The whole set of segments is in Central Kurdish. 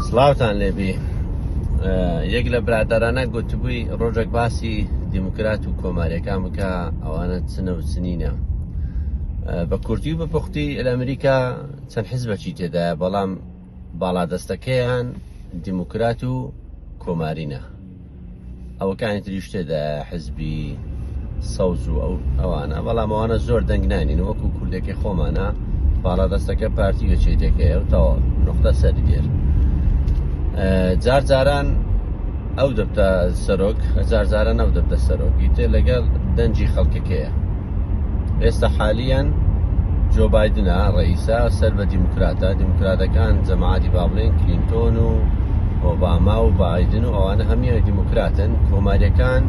سڵاوتان لێبی یەک لە برادرانە گوتبووی ڕۆژێک باسی دیموکرات و کۆمارەکان بکە ئەوانە چنە و چنینە بە کورتی و بەپختی لە ئەمریکا چەند حزبەکی تێدا بەڵام باڵادەستەکەیان دیموکرات و کۆمارینە ئەوەکانی تریش تێدا حزبی سەوز و ئەو ئەوانە بەڵام ئەوانە زۆر دەنگ نانین وەکو کوردێکی خۆمانە باڵا دەستەکە پارتی وەچێ دەکەی و تەواو نقطە سەر دێر جار جاران ئەو دەبتە سەرۆک هەزار جارە نەو دەبتە سەرۆکی تێ لەگەڵ دەنجی خەڵکەکەیە ئێستا حالیان جۆ بادنە ڕئیسا سەر بە دیموکراتە دیموکراتەکان جەماعاتی بابلین کلینتۆن و ئۆباما و بادن و ئەوانە هەمیان دیموکراتن کۆماریەکان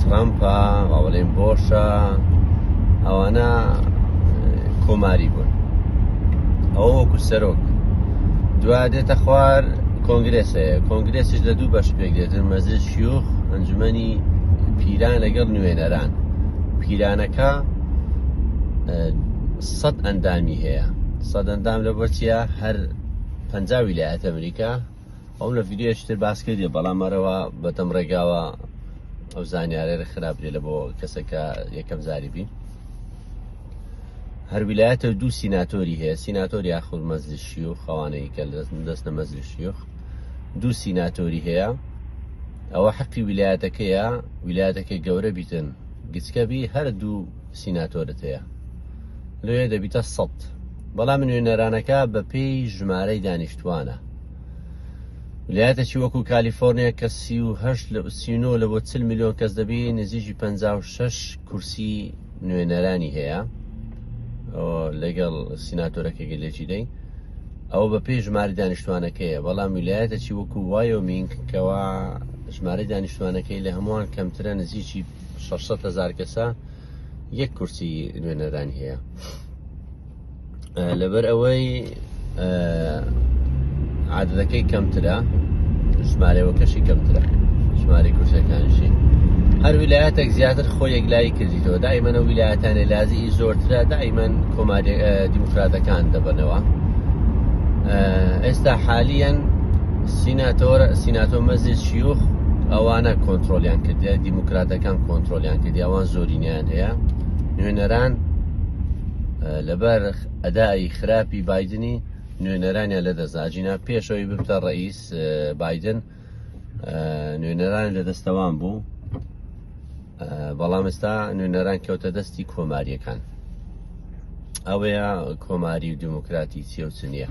ترامپە باڵێن بۆشە ئەوانە کۆماری بوون ئەو وەکو سەرۆک دوا دێتە خوار کۆنگرێس هەیە کۆنگرێسیش لە دوو بەش پێک دێتن مەزل شیوخ ئەنجومی پیران لەگەڵ نوێنەران پیلانەکە سەد ئەندامی هەیە سەد ئەندام لە بۆچیە هەر پەنجا ویلایەت ئەمریکا ئەو لە ڤیددیوشتر باس کردێ بەڵام مەرەوە بەتەم ڕێگاوە ئەو زانیارێر خراپ لێ لە بۆ کەسەکە یەکەم زاری بین هەر ویلایەتە دوو سیناتۆری هەیە سیناتۆری یاخود مەزلی شیوخ خەوانەی کە دەستە مەزلی شیوخ دوو سیناتۆری هەیە ئەوە حەقی ویلایەتەکەیە ویلایەتەکەی گەورە بیتن گچکەبی هەردوو سیناتۆرت هەیە لێ دەبیتە سەد بەڵام نوێنەرانەکە بە پێی ژمارەی دانیشتوانە لایەتەکی وەکو کالیفۆرنیا کە سیهشت لە ئوسینۆ لە بۆ چل میلیۆن کەس دەبی نزیکی 56 کورسی نوێنەرانی هەیە لەگەڵ سیناتۆرەکە گەلێکی دەی ئەوە بە پێی ژماری دانیشتوانەکەیە بەڵام ویلایەتە چی وەکو وایۆ مینگ کەوا ژمارە دانیشتوانەکەی لە هەمووان کەمترە نزیکی 600 هزار کەسە یەک کورسی نوێنەرانی هەیە. لەبەر ئەوەی عادەتەکەی کەمترە ژمارەوەکەشی کەمترە ژماری کورسەکانشی هەر ویلایەتێک زیاتر خۆ یەکلایی کردیتەوە دایمەە ویلایەتانێ لازی زۆرترە دایمەن کۆماری دیموکراتەکان دەبنەوە ئێستا حالیان سیناتۆر سیناتۆ مەزی شیوخ ئەوانە کۆنتترۆلیان کردیا دیموکراتەکان کۆنتترۆلیان کردی ئەوان زۆرینیان هەیە نوێنەران لەبەر ئەدائی خراپی بادنی نوێنەرانیان لەدەستدا جینا پێشەوەی ببتە ڕئیس بادن نوێنەران لە دەستەوان بوو بەڵام ئێستا نوێنەران کەوتە دەستی کۆماریەکان ئەوەیە کۆماری و دیموکراتی چێوچ نییە.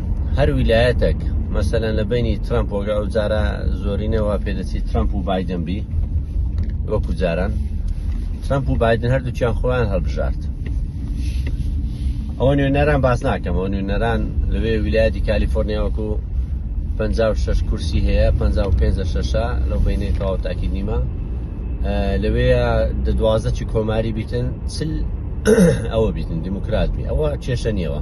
هەر ویلایەتێک مەسەلەن لە بینی ترامپ وەگە ئەو جارە زۆرینەوە پێدەچی ترامپ و بادن بی وەکو جاران ترامپ و بادن هەردووچیان خۆیان هەڵبژارد ئەوە نوێنەران باس ناکەمەوە نوێنەران لەوێ ویلایەتی کالیفۆرنیا وەکو 56 کورسی هەیە 55 شەشە لەو بینەی تەواو تاکی نیمە لەوەیە دەدوازە چی کۆماری بیتن چل ئەوە بیتن دیموکرات بی ئەوە کێشە نیەوە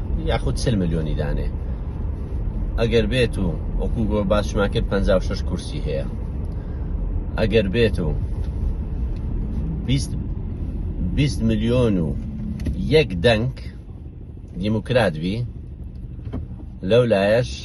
یاخود چل ملیۆنی دانێ ئەگەر بێت و وەکو گۆ باشمان کرد 56 کورسی هەیە ئەگەر بێت و 20 میلیۆن و یەک دەنگ دیموکرات بی لەو لایەش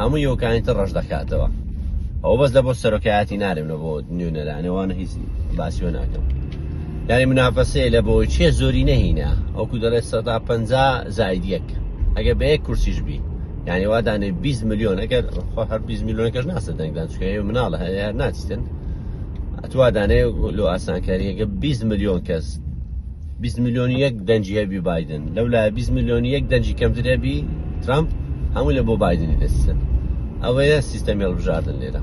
هەموو یۆکانی تر ڕەش دەکاتەوە ئەو بەس لە بۆ سەرۆکایەتی نارێم لە بۆ نوێنەرانێ وانە هیچ باسیۆ ناکەم یاری منافەسەیە لە بۆی چیە زۆری نەهینە ئەوکو دەڵێت سەدا پ زاید یەک ئەگەر بە یەک کورسیش بی یعنی وا دانێ 20 میلیۆن ئەگەر هەر 20 میلیۆنەکەش ناسە دەنگدان چکەیە مناڵە هەیە ناچیتن ئەتوا دانێ لۆ ئاسانکاریەکە 20 میلیۆن کەس بیست ملیۆن و یەک دەنگی هەبی بایدن لەو لایە بیست ملیۆن و یەک دەنگی کەمتر هەبی ترامپ هەموو لە بۆ بایدنی دەسیسن ئەوەیە سیستەمی هەڵبژاردن لێرە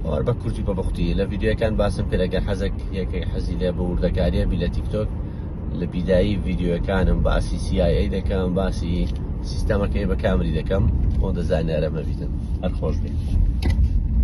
ئەوار بە کورتی بە بختی لە ڤیددیوەکان باسم کرد ئەگەر حەزێک یەکێک حەزی لێ بە وردەکاریە بی لە تیکتۆک لە بیدایی ڤیددیوەکانم باسی CIA دەکەم باسی سیستەمەکەی بە کامری دەکەم خۆ دەزانیارە مەبیتن هەر خۆش بێت